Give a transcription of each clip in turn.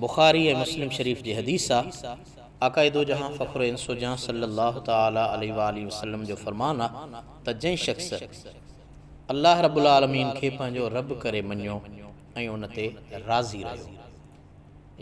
بخاري ۽ مسلم شريف جي حديث آ، آقاء دوجهان فخر انس و جان صلّي الله تعالٰي عليه واٰله وسلّم جو فرمان آ ته جنهن شخص الله رب العٰلمين کي پنهنجو رب ڪري مڃيو ۽ ان تي راضي رهيو،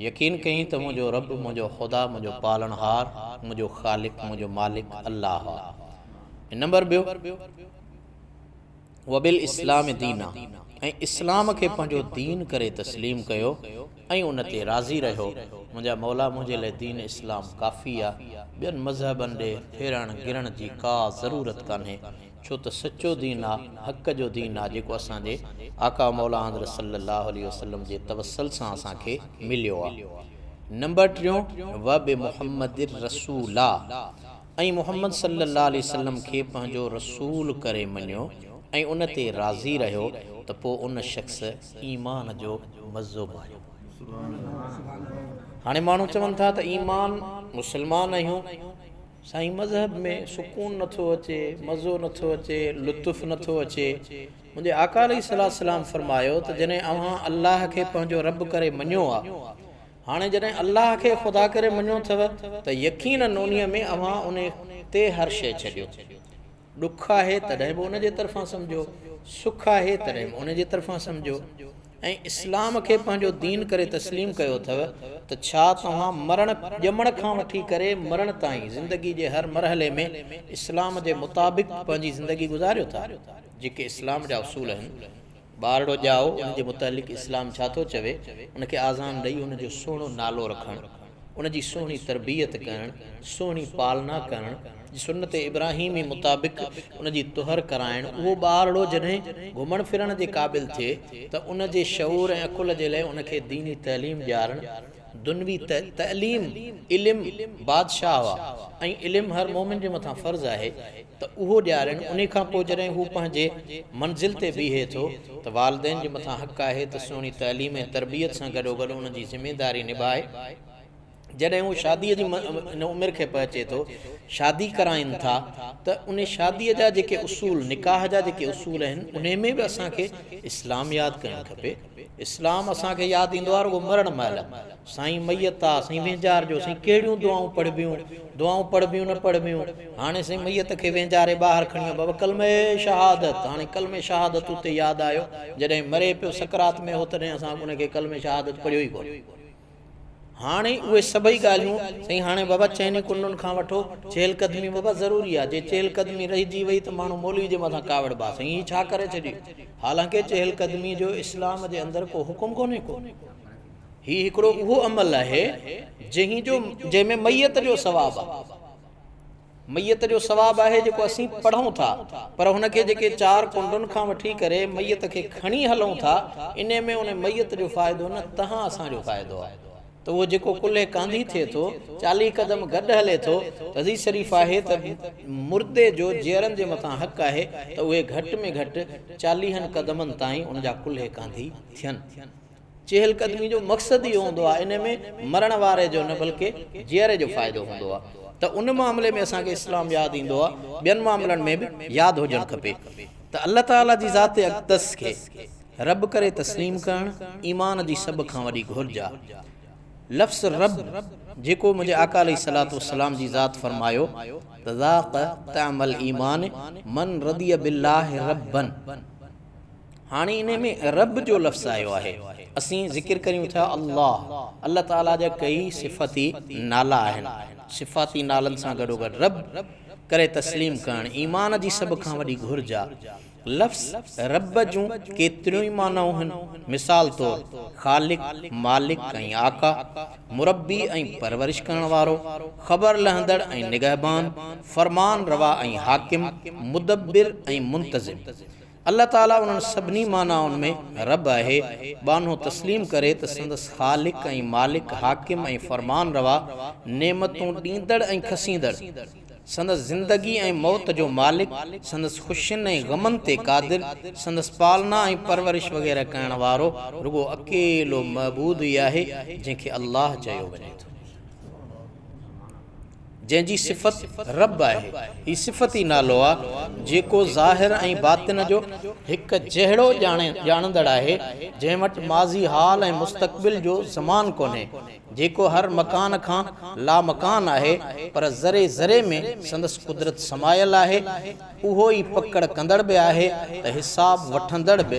يقين ڪيائين ته منهنجو رب، منهنجو خدا، منهنجو پالڻهار، منهنجو خالق، منهنجو مالڪ الله آ ۽ نمبر ٻيو، وبالاسلام دينا ۽ اسلام کي پنهنجو دين ڪري تسليم ڪيو ۽ ان تي راضي رهيو، منهنجا مولا منهنجي لاء دين اسلام ڪافي آ، ٻين مذهبن ڏي ڦيرڻ گرڻ جي ڪا ضرورت ڪانهي، ڇو ته سچو دين آ، حق جو دين آ جيڪو اسان جي آقا مولا حضرت صلّي اللّٰه عليه وسلّم جي توسّل سان اسان کي مليو آ. نمبر ٽيون، وبمحمّد الرّسولّٰ، ۽ محمد صلّي اللّٰه عليه وسلّم کي پنهنجو رسول ڪري مڃيو ۽ ان تي راضي رهيو ته پوء ان شخص ايمان جو مزو ماڻيو. هاڻي ماڻهو چون ٿا ته ايمان، مسلمان آهيون، سائين مذهب ۾ سڪون نه ٿو اچي، مزو نه ٿو اچي، لطف نه ٿو اچي. منهنجي آقا عليه الصلّي والسلّام فرمايو ته جڏهن اوهان الله کي پنهنجو ربّ ڪري مڃيو آ هاڻي جڏهن الله کي خدا ڪري مڃو ٿيو ته يقينن انهيء ۾ اوهان انهي تي هر شيء ڇڏيو. ڏک آهي تڏهن به ان جي طرفان سمجهو، سک آهي تڏهن به ان جي طرفان سمجهو ۽ اسلام کي پنهنجو دين ڪري تسليم ڪيو ٿيو ته ڇا توهان مرڻ، ڄمڻ کان وٺي ڪري مرڻ تائين زندگي جي هر مرحلي ۾ اسلام جي مطابق پنهنجي زندگي گذاريو ٿا؟ جيڪي اسلام جا اصول آهن، ٻارڙو ڄائو ان جي متعلق اسلام ڇا ٿو چوي، ان کي آذان ڏئي ان جو سهڻو نالو رکڻ، ان جي سهڻي تربيت ڪرڻ، سهڻي پالنا ڪرڻ، سنت ابراهيمي مطابق ان جي طهر ڪرائڻ، اهو ٻارڙو جڏهن گهمڻ ڦرڻ جي قابل ٿئي ته ان جي شعور ۽ عقل جي لئه ان کي ديني تعليم ڏيارڻ، دنوي تعليم، علم بادشاهه آ ۽ علم هر مؤمن جي مٿان فرض آهي، ته اهو ڏيارين، انهي کان پوء جڏهن هو پنهنجي منزل تي بيهي ٿو ته والدين جي مٿان حق آهي ته سهڻي تعليم ۽ تربيت سان گڏوگڏ ان جي ذميداري نڀائي، جڏهن هو شاديء جي ان عمر کي پهچي ٿو، شادي ڪرائين ٿا ته انهي شاديء جا جيڪي اصول، نڪاح جا جيڪي اصول آهن، انهي ۾ به اسان کي اسلام ياد ڪرڻ کپي. اسلام اسان کي ياد ايندو آهي رڳو مرڻ مهل سائين ميت آ سائين وينجار جو سائين ڪهڙيون دعائون پڙهبيون دعائون پڙهبيون نه پڙهبيون هاڻي سائين ميت کي وينجاري ٻاهر کڻي ويو بابا ڪلمه شهادت هاڻي ڪلمه شهادت اتي ياد آيو جڏهن مري پيو سڪرات ۾ هو تڏهن اسان ان کي ڪلمه شهادت پڙهيو ئي ڪونه هاڻي اهي سڀئي ڳالهيون سائين هاڻي بابا چئني ڪنڊن کان وٺو چهل قدمي بابا ضروري آ جي چهل قدمي رهجي وئي ته ماڻهو مولوي جي مٿان ڪاوڙ با سائين هي ڇا ڪري ڇڏي حالانڪه چهل قدمي جو اسلام جي اندر ڪو حڪم ڪونهي ڪو هي هڪڙو اهو عمل آهي جنهن جو جنهن ۾ ميت جو ثواب آ. ميت جو ثواب آهي جيڪو اسين پڙهون ٿا، پر هن کي جيڪي چار ڪنڊن کان وٺي ڪري ميت کي کڻي هلون ٿا، انهي ۾ ان ميت جو فائدو نه تهان اسان جو فائدو آهي ته اهو جيڪو ڪلهي ڪانڌي ٿئي ٿو، چاليهه قدم گڏ هلي ٿو ته حديث شريف آهي ته مردي جو جيئرن جي مٿان حق آهي ته اهي گهٽ ۾ گهٽ چاليهن قدمن تائين ان جا ڪلهي ڪانڌي ٿين. چهل قدمي جو مقصد اهو هوندو آهي انهي ۾ مرڻ واري جو نه بلڪه جيئري جو فائدو هوندو آهي ته ان معاملي ۾ اسان کي اسلام ياد ايندو آهي ٻين معاملن ۾ به ياد هجڻ کپي ته الله تعالي جي ذات اقدس کي رب ڪري تسليم ڪرڻ ايمان جي سڀ کان وڏي گهرج آهي لفظ رب جيڪو منهنجي آقا عليه الصلاة والسلام جي ذات فرمايو ته ذاق طعم الايمان من رضي بالله ربًا هاڻي انهي ۾ رب جو لفظ آيو آهي. اسين ذڪر ڪريون ٿيا الله، الله تعاليٰ جا ڪيئي صفتي نالا آهن. صفاتي نالن سان گڏوگڏ رب ڪري تسليم ڪرڻ ايمان جي سڀ کان وڏي گهرج آ. لفظ رب جون ڪيتريون ئي معنائون هن. مثال طور، خالق، مالڪ ۽ آقا، مربي ۽ پرورش ڪرڻ وارو، خبر لهندڙ ۽ نگهبان، فرمان روا ۽ حاڪم، مدبر ۽ منتظم. الله تعاليٰ انهن سڀني معنائن ۾ رب آهي، ٻانهو تسليم ڪري ته سندس خالق ۽ مالڪ، حاڪم ۽ فرمان روا، نعمتون ڏيندڙ ۽ کسيندڙ، سندس زندگي ۽ موت جو مالڪ، سندس خوشين ۽ غمن تي قادر، سندس پالنا ۽ پرورش وغيره ڪرڻ وارو رڳو اڪيلو معبود ئي آهي، جنهن کي الله چيو وڃي ٿو. جنهن جي صفت رب آهي. هي صفت ئي نالو آ، جيڪو ظاهر ۽ باطن جو هڪ جهڙو ڄاڻندڙ آهي، جنهن وٽ ماضي حال ۽ مستقبل جو زمان ڪونهي، جيڪو هر مڪان کان لامڪان آهي، پر ذري ذري ۾ سندس قدرت سمايل آهي، اهو ئي پڪڙ ڪندڙ به آهي ته حساب وٺندڙ به،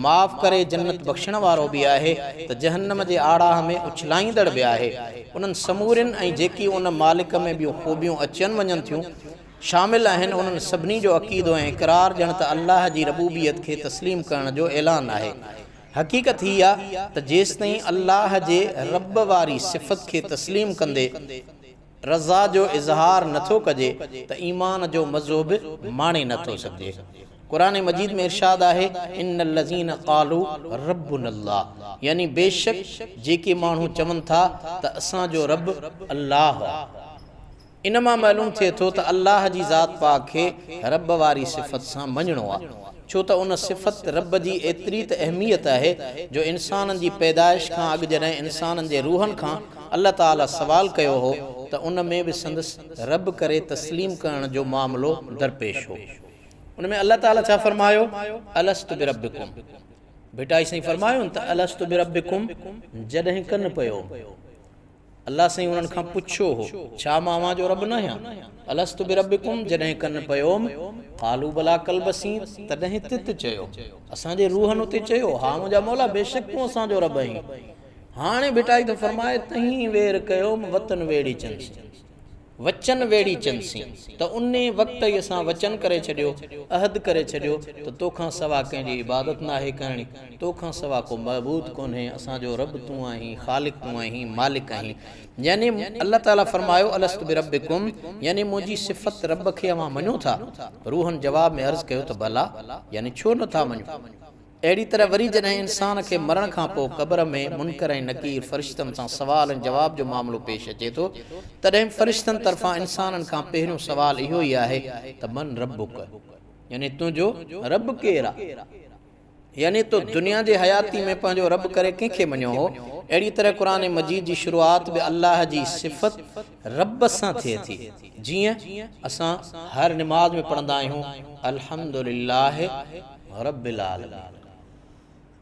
معاف ڪري جنت بخشڻ وارو به آهي ته جهنم جي آڙاهه ۾ اڇلائيندڙ به آهي. انهن سمورين ۽ جيڪي ان مالڪ ۾ ٻيون خوبيون اچين وڃن ٿيون، شامل آهن، انهن سڀني جو عقيدو ۽ اقرار ڄڻ ته الله جي ربوبيت کي تسليم ڪرڻ جو اعلان آهي. حقيقت هي آ ته جيستائين الله جي رب واري صفت کي تسليم ڪندي، رضا جو اظهار نه ٿو ڪجي ته ايمان جو مزو به ماڻي نه ٿو سگهجي. قرآن مجيد ۾ ارشاد آهي، ان الذين قالوا ربنا الله يعني بيشڪ جيڪي ماڻهو چون ٿا ته اسان جو رب الله آهي. ان مان معلوم ٿئي ٿو ته الله جي ذات پاڪ کي رب واري صفت سان مڃڻو آهي. ڇو ته ان صفت رب جي ايتري ته اهميت آهي جو انسانن جي پيدائش کان اڳ جڏهن انسانن جي روحن کان الله تعاليٰ سوال ڪيو هو ته ان ۾ به سندس رب ڪري تسليم ڪرڻ جو معاملو درپيش هو ان ۾ الله تعاليٰ ڇا فرمايو الست بربڪم ڀٽائي سائين فرمايون ته الست بربڪم جڏهن ڪن پيو الله سائين انهن کان پڇيو هو، ڇا مان اوهان جو رب ناهيان؟ الست بربڪم جڏهن ڪن پيوم، قالو بلا قلب اسين تڏهن تت چيو، اسان جي روحن اتي چيو، ها منهنجا مولا بيشڪ تون اسان جو رب آهين. هاڻي ڀٽائي ٿو فرمائي، تهين وير ڪيوم وتن ويڙهي چنس. وچن ويڙهي چنسين ته انهي وقت ئي اسان وچن ڪري ڇڏيو، عهد ڪري ڇڏيو، ته تو کان سوا ڪنهن جي عبادت ناهي ڪرڻي، تو کان سوا ڪو معبود ڪونهي، اسان جو رب تون آهين، خالق تون آهين، مالڪ آهين. يعني الله تعاليٰ فرمايو الست بربڪم، يعني منهنجي صفت رب کي اوهان مڃو ٿا؟ روحن جواب ۾ عرض ڪيو ته بلا، يعني ڇو نه ٿا مڃون؟ اهڙي طرح وري جڏهن انسان کي مرڻ کان پوء قبر ۾ منڪر ۽ نڪير فرشتن سان سوال ۽ جواب جو معاملو پيش اچي ٿو تڏهن فرشتن طرفان انسانن کان پهريون سوال اهو ئي آهي ته من ربک يعني تنهنجو رب ڪير آ؟ يعني تو دنيا جي حياتي ۾ پنهنجو رب ڪري ڪنهن کي مڃيو هو؟ اهڙي طرح قرآن مجيد جي شروعات به الله جي صفت رب سان ٿئي ٿي جيئن اسان هر نماز ۾ پڙهندا آهيون الحمد لله رب العالمين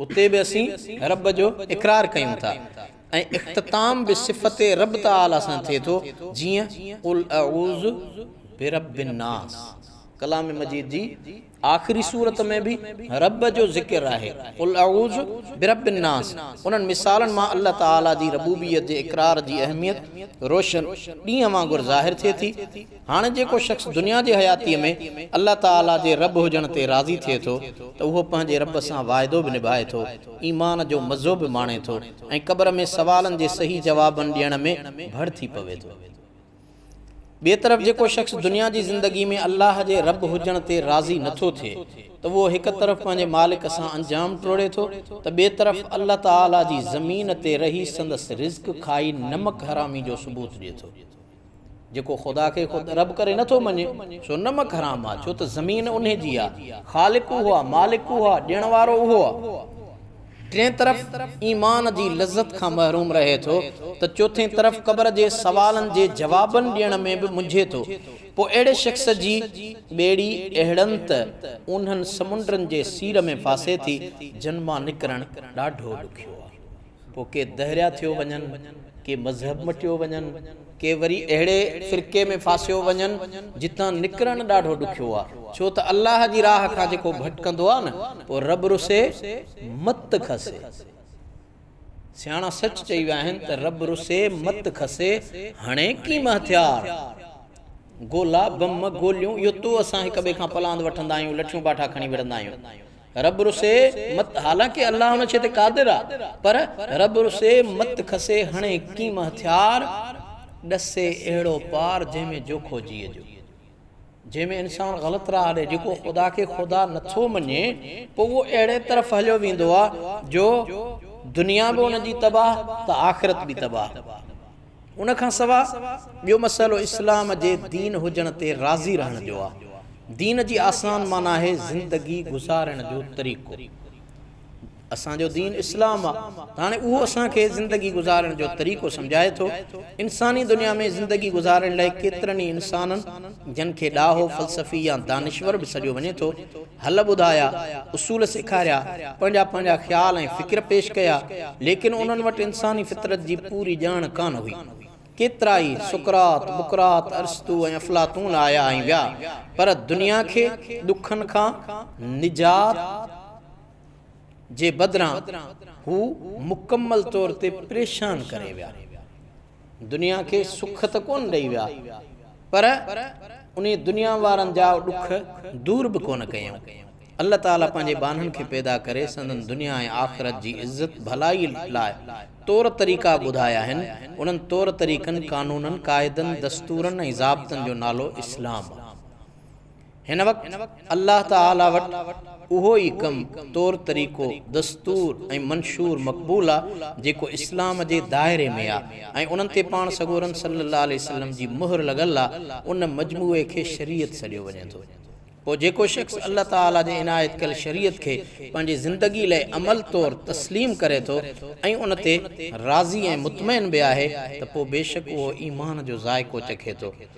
اتي به اسين رب جو اقرار ڪيون ٿا ۽ اختتام به صفت رب تعالي سان ٿئي ٿو جيئن قل اعوذ برب الناس ڪلام مجيد جي آخري سورت ۾ به رب جو ذڪر آهي، قل اعوذ برب الناس، انهن مثالن مان الله تعاليٰ جي ربوبيت جي اقرار جي اهميت روشن ڏينهن وانگر ظاهر ٿئي ٿي. هاڻي جيڪو شخص دنيا جي حياتيء ۾ الله تعاليٰ جي رب هجڻ تي راضي ٿئي ٿو ته اهو پنهنجي رب سان واعدو به نڀائي ٿو، ايمان جو مزو به ماڻي ٿو ۽ قبر ۾ سوالن جي صحيح جوابن ڏيڻ ۾ ڀڙ ٿي پوي ٿو. ٻئي طرف جيڪو شخص دنيا جي زندگي ۾ الله جي رب هجڻ تي راضي نه ٿو ٿئي ته اهو هڪ طرف پنهنجي مالڪ سان انجام ٽوڙي ٿو ته ٻئي طرف الله تعاليٰ جي زمين تي رهي سندس رزق کائي نمڪ حرامي جو ثبوت ڏئي ٿو. جيڪو خدا کي خود رب ڪري نه ٿو مڃي سو نمڪ حرام آ ڇو ته زمين انهي جي آ، خالق اهو آ، مالڪ اهو آ، ڏيڻ وارو اهو آ. ٽئين طرف ايمان جي لذت کان محروم رهي ٿو ته چوٿين طرف قبر جي سوالن جي جوابن ڏيڻ ۾ به منجهي ٿو پوء اهڙي شخص جي ٻيڙي اهڙن ته اونهن سمنڊن جي سير ۾ ڦاسي ٿي جن مان نڪرڻ ڏاڍو ڏکيو آهي پوء ڪي دهريا ٿيو وڃن ڪي مذهب مٽيو وڃن ڪي وري اهڙي فرقي ۾ ڦاسيو وڃن جتان نڪرڻ ڏاڍو ڏکيو آ ڇو ته الله جي راهه کان جيڪو ڀٽڪندو آ نه پوء رب رسي مت کسي سياڻا سچ چئي ويا آهن ته رب رسي مت کسي هڻي ڪيم هٿيار گولا بم گوليون اهو تو اسان هڪ ٻئي کان پلاند وٺندا آهيون لٺيون باٺا کڻي وڙهندا آهيون رب رسي مت حالانڪه الله ان شيء تي قادر آ پر رب رسي مت کسي هڻي ڪيم هٿيار ڏسي اهڙو پار جنهن ۾ جوکو جيء جو جنهن ۾ انسان غلط راهه ڏي جيڪو خدا کي خدا نٿو مڃي پوء اهو اهڙي طرف هليو ويندو آ جو دنيا به ان جي تباهه ته آخرت به تباهه. ان کان سواء ٻيو مسئلو اسلام جي دين هجڻ تي راضي رهڻ جو آ. دين جي آسان معنيٰ آهي زندگي گذارڻ جو طريقو. اسان جو دين اسلام آ ته هاڻي اهو اسان کي زندگي گذارڻ جو طريقو سمجهائي ٿو. انساني دنيا ۾ زندگي گذارڻ لاء ڪيترن ئي انسانن جن کي ڏاهو، فلسفي يا دانشور به سڏيو وڃي ٿو، حل ٻڌايا، اصول سيکاريا، پنهنجا پنهنجا خيال ۽ فڪر پيش ڪيا، ليڪن انهن وٽ انساني فطرت جي پوري ڄاڻ ڪانه هئي. ڪيترائي سقراط، بقراط، ارسطو ۽ افلاطون آيا ۽ ويا، پر دنيا کي ڏکن کان نجات جي بدران هو مڪمل طور تي پريشان ڪري ويا. دنيا کي سک ته ڪونه ڏئي ويا پر انهي دنيا وارن جا ڏک دور به ڪونه ڪيائون. الله تعاليٰ پنهنجي ٻانهن کي پيدا ڪري سندن دنيا ۽ آخرت جي عزت ڀلائي لاء طور طريقا ٻڌايا آهن، انهن طور طريقن، قانونن، قاعدن، دستورن ۽ ضابطن جو نالو اسلام آهي. هن وقت الله تعاليٰ وٽ اهو ئي ڪم، طور طريقو، دستور ۽ منشور مقبول آ جيڪو اسلام جي دائري ۾ آ ۽ انهن تي پاڻ سڳورن صلّي اللّٰه عليه وسلّم جي مهر لڳل آ، ان مجموعي کي شريعت سڏيو وڃي ٿو. پوء جيڪو شخص الله تعاليٰ جي عنايت ڪيل شريعت کي پنهنجي زندگي لئه عمل طور تسليم ڪري ٿو ۽ ان تي راضي ۽ مطمئن به آهي ته پوء بيشڪ اهو ايمان جو ذائقو چکي ٿو.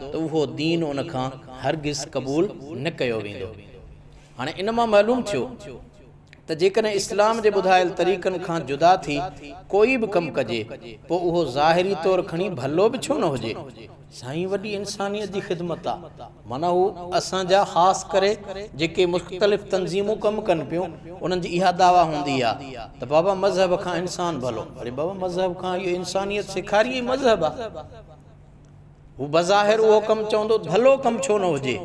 ته اهو دين ان کان هرگز قبول نه ڪيو ويندو. هاڻي ان مان معلوم ٿيو ته جيڪڏهن اسلام جي ٻڌايل طريقن کان جدا ٿي ڪوئي به ڪم ڪجي پوء اهو ظاهري طور کڻي ڀلو به ڇو نه هجي. سائين وڏي انسانيت جي خدمت آ معنيٰ هو اسان جا خاص ڪري جيڪي مختلف تنظيمون ڪم ڪن پيون انهن جي اها دعويٰ هوندي آ ته بابا مذهب کان انسان ڀلو اڙي بابا مذهب کان اهو انسانيت سيکاري اهي مذهب آ. هو بظاهر اهو ڪم چوندو ڀلو ڪم ڇو نه هجي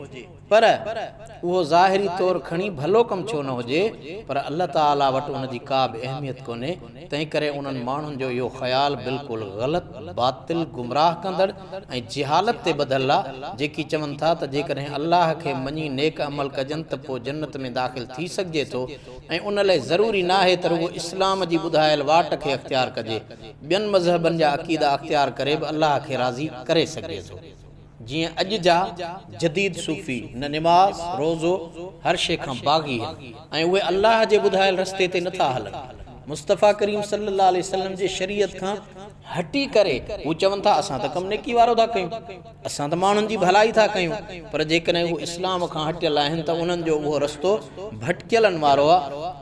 پر اهو ظاهري طور کڻي ڀلو ڪم ڇو نه هجي پر الله تعالي وٽ ان جي ڪا به اهميت ڪونهي تنهنڪري انهن ماڻهن جو اهو خيال بلڪل غلط باطل گمراهه ڪندڙ ۽ جهالت تي ٻڌل آهي جيڪي چون ٿا ته جيڪڏهن الله کي مڃي نيڪ عمل ڪجن ته پوء جنت ۾ داخل ٿي سگهجي ٿو ۽ ان لئه ضروري ناهي ته رڳو اسلام جي ٻڌايل واٽ کي اختيار ڪجي ٻين مذهبن جا عقيدا اختيار ڪري به الله کي راضي ڪري سگهجي ٿو. جيئن اڄ جا جديد صوفي نه نماز، روزو، هر شيء کان باغي آهن ۽ اهي الله جي ٻڌايل رستي تي نٿا هلن. مصطفيٰ ڪريم صلّي الله عليه وسلّم جي شريعت کان هٽي ڪري هو چون ٿا اسان ته ڪم نيڪي وارو ٿا ڪيون. اسان ته ماڻهن جي ڀلائي ٿا ڪيون، پر جيڪڏهن هو اسلام کان هٽيل آهن ته انهن جو اهو رستو ڀٽڪيلن وارو آ.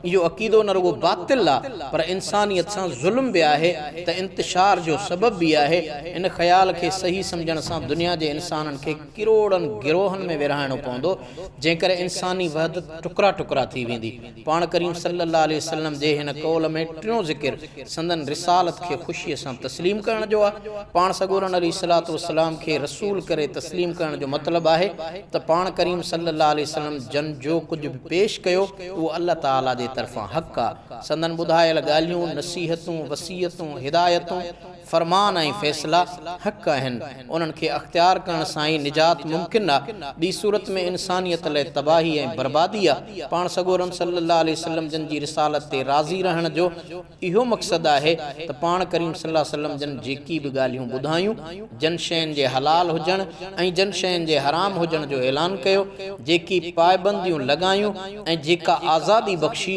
اهو عقيدو نه رڳو باطل آ، پر انسانيت سان ظلم به آهي ته انتشار جو سبب به آهي. ان خيال کي صحيح سمجهڻ سان دنيا جي انسانن کي ڪروڙن گروهن ۾ ورهائڻو پوندو، جنهن ڪري انساني وحدت ٽڪرا ٽڪرا ٿي ويندي. پاڻ ڪريم صلّي اللّٰه عليه وسلّم جي هن قول ۾ ٽيون ذڪر سندن رسالت کي خوشيء سان تسليم ڪرڻ جو آهي. پاڻ سڳورن عليه الصلوة والسلام کي رسول ڪري تسليم ڪرڻ جو مطلب آهي ته پاڻ ڪريم صلّي اللّٰه عليه وسلّم جن جو ڪجهه به پيش ڪيو اهو الله تعالي جي طرفان حق آهي. سندن ٻڌايل ڳالهيون، نصيحتون، وصيتون، هدايتون، فرمان ۽ فيصلا حق آهن، انهن کي اختيار ڪرڻ سان ئي نجات ممڪن آ، ٻي صورت ۾ انسانيت لئه تباهي ۽ بربادي آ، پاڻ سڳورن صلّي اللّٰه عليه وسلّم جن جي رسالت تي راضي رهڻ جو اهو مقصد آهي ته پاڻ ڪريم صلّي اللّٰه عليه وسلّم جن جيڪي به ڳالهيون ٻڌايون، جن شين جي حلال هجڻ ۽ جن شين جي حرام هجڻ جو اعلان ڪيو، جيڪي پائبنديون لڳايون ۽ جيڪا آزادي بخشي،